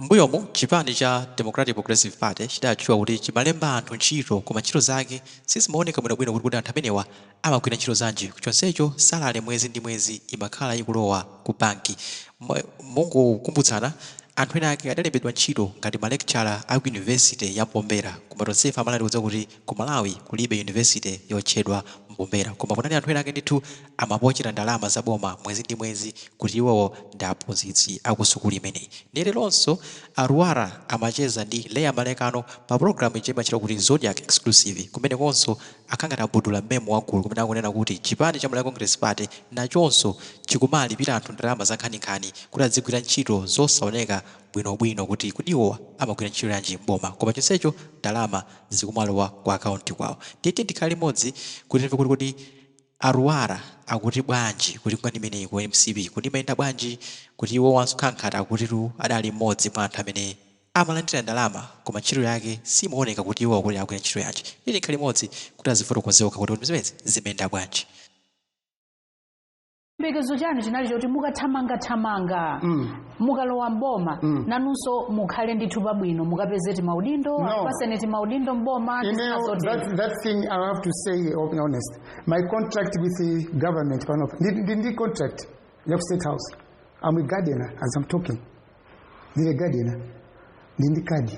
M'mbuyomu, chipani cha Democratic Progressive Party chidatchuka kuti chimalemba anthu ntchito koma ntchito zake sizimaoneka bwinobwino kuti kodi anthu amenewa amagwira ntchito zanji chonsecho salary mwezi ndi mwezi imakhala ikulowa ku banki. Mongokumbutsana, anthu ena ake adalembedwa ntchito ngati ma lecturer a ku University ya Mombera koma tonsefe a Malawi tikudziwa kuti Ku Malawi kulibe university yotchedwa Mombera koma kunali anthu ena ake ndithu amapochela ndalama za boma mwezi ndi mwezi kuti iwowo ndi aphunzitsi a ku sukulu imeneyi. Ndiye leronso a Lwara amacheza ndi Leah Malekano pa program ija imatchedwa kuti Zodiak Exclusive. Kumenekonso akhala ngati abudula mmemo wa gulu kumene akunena kuti chipani cha Malawi Congress Party nachonso chikumalipila anthu ndalama zankhaninkhani kuti adzigwira ntchito zosaoneka bwinobwino kuti kodi iwowa amagwira ntchito yanji m'boma koma chonsecho ndalama zikumalowa ku account kwawo ndiye tiyeni tikhale limodzi kuti timve kuti kodi a Lwara akuti bwanji kuti nkhani imeneyi ku mcp kodi imayenda bwanji kuti iwowanso akhala ngati akutitu adali mmodzi mwa anthu amene amalandira ndalama koma ntchito yake simaoneka kuti iwowa kuti akugwira ntchito yanji tiyeni tikhale limodzi kuti azifotokoze okha kuti kodi zimenezi zimayenda bwanji. chiyembekezo chanu chinali choti mukathamangathamanga Mm. mukalowa mboma Mm. nanunso mukhale ndithu pabwino mukapeze timaudindo No. akupaseni timaudindo mboma ndi You zina know, zoti- that, that thing I have to say open honest. My contract with the government, pano, ndi, ndi, ndi contract ya ku State House. I'm a gardener as I'm talking. ndine gardener ndili ndi kadi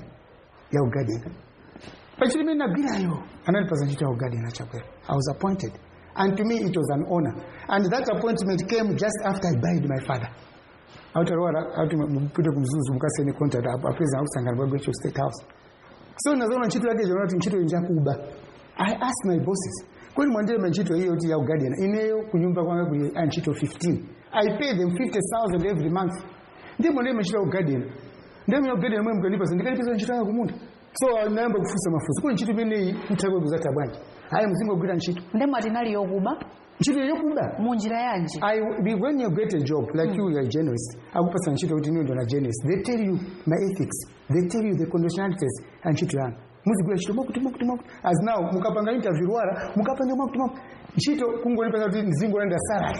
ya ugadena actually imene nagwirayo anandipasa ntchito ya ugadena chakwera i was appointed and to me it was an honor and that appointment came just after i buried my father autalowa akuti mupite ku mzuzu mukasaine contract apo apeza akusangana bwa gwecho state house so nazoona ntchito yake jona kuti ntchito ndi yakuba i asked my bosses bwanji mwandilemba ntchito iyo kuti ya ugadena ineyo kunyumba kwanga kuli a ntchito 15 i pay them 50000 every month ndiye mwana imachita kugadena ndiye mwana kugadena mwe mkanipasa ndikanipasa ntchito yanga kumunda so ndinayamba kufunsa mafunso kuti ntchito imeneyi mthakwe kuzatha bwanji ayi muzingogwira ntchito nde mwati inali yokuba ntchito yokuba mu njira yanji I, be- when you get a job like you, you are a journalist. Akupasa ntchito kuti inu ndinu a journalist. They tell you ma ethics. They tell you the conditionalities a ntchito yanu. Muzigwira ntchito mwakuti mwakuti mwakuti. As now mukapanga interview wala mukapanga mwakuti mwakuti. Ntchito kungonipasa kuti nzingolandira salary.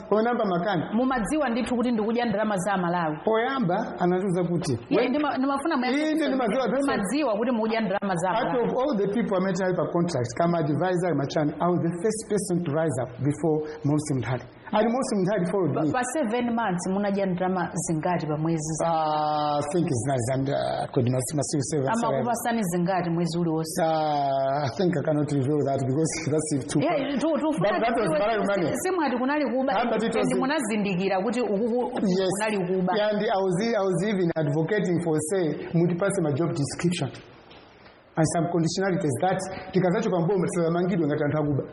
pamene nayamba makani mumadziwa ndithu kuti ndikudya ndalama za amalawi poyamba anatiuza kuti Iye ndima- ndimafuna muyankhe Inde, kuti ndimadziwa zonse. mumadziwa kuti mukudya ndalama za amalawi out of all the people amene tinali pa contract kaya ma advisor kaya ma chani i was the first person to rise up before maurice munthali and maurice munthali followed me pa 7 months munadya ndalama zingati pa mwezi za- Ah, I think it's not zambiri. I could not see my civil servants. amakupasani zingati mwezi uliwonse Uh, I think I cannot reveal that because that's it too Yeah, far. tu- tufuna But that was tidziwe- very money. si- simwati kunali kuba Ah, but it was- and munazindikira kuti ukuku yes kunali kuba and i was i was even advocating for say mutipase ma job description and some conditionalities that tikazachoka m'boma tisamangidwe ngati anthu akuba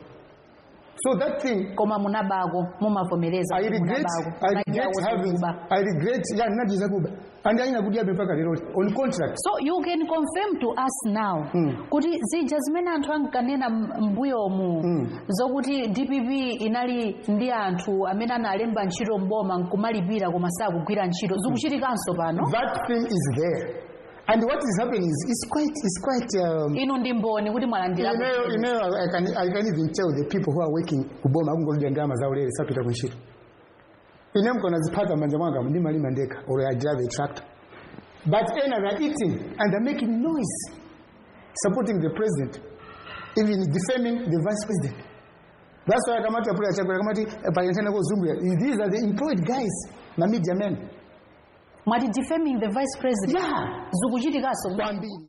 so that thing koma munabako mumavomereza I kuti regret, munabako I Munadya regret kuti having, kuba. I regret, yeah, ndinadya zakuba. and ena akudyabe mpaka lero on contract so you can confirm to us now kuti zija zimene anthu ankanena m- m'mbuyomu zokuti dpp inali ndi anthu amene analemba ntchito mboma nkumalipira koma sakugwira ntchito zikuchitikanso pano that thing is there and what is happening is it's quite it's quite um, inu ndi mboni kuti mwalandira ineyo ineyo I can, I can even tell the people who are working kuboma akungodya ndalama zaulere sapita kuntchito ine mkona ziphatha manja mwanga ndimalima ndekha or i drive a tractor but ena they are eating and they're making noise supporting the president even defaming the vice president that's why akamati apule achakula akamati eh, payentana kozungulira these are the employed guys ma media men mwati defaming the vice president Yeah. zikuchitikanso kwambiri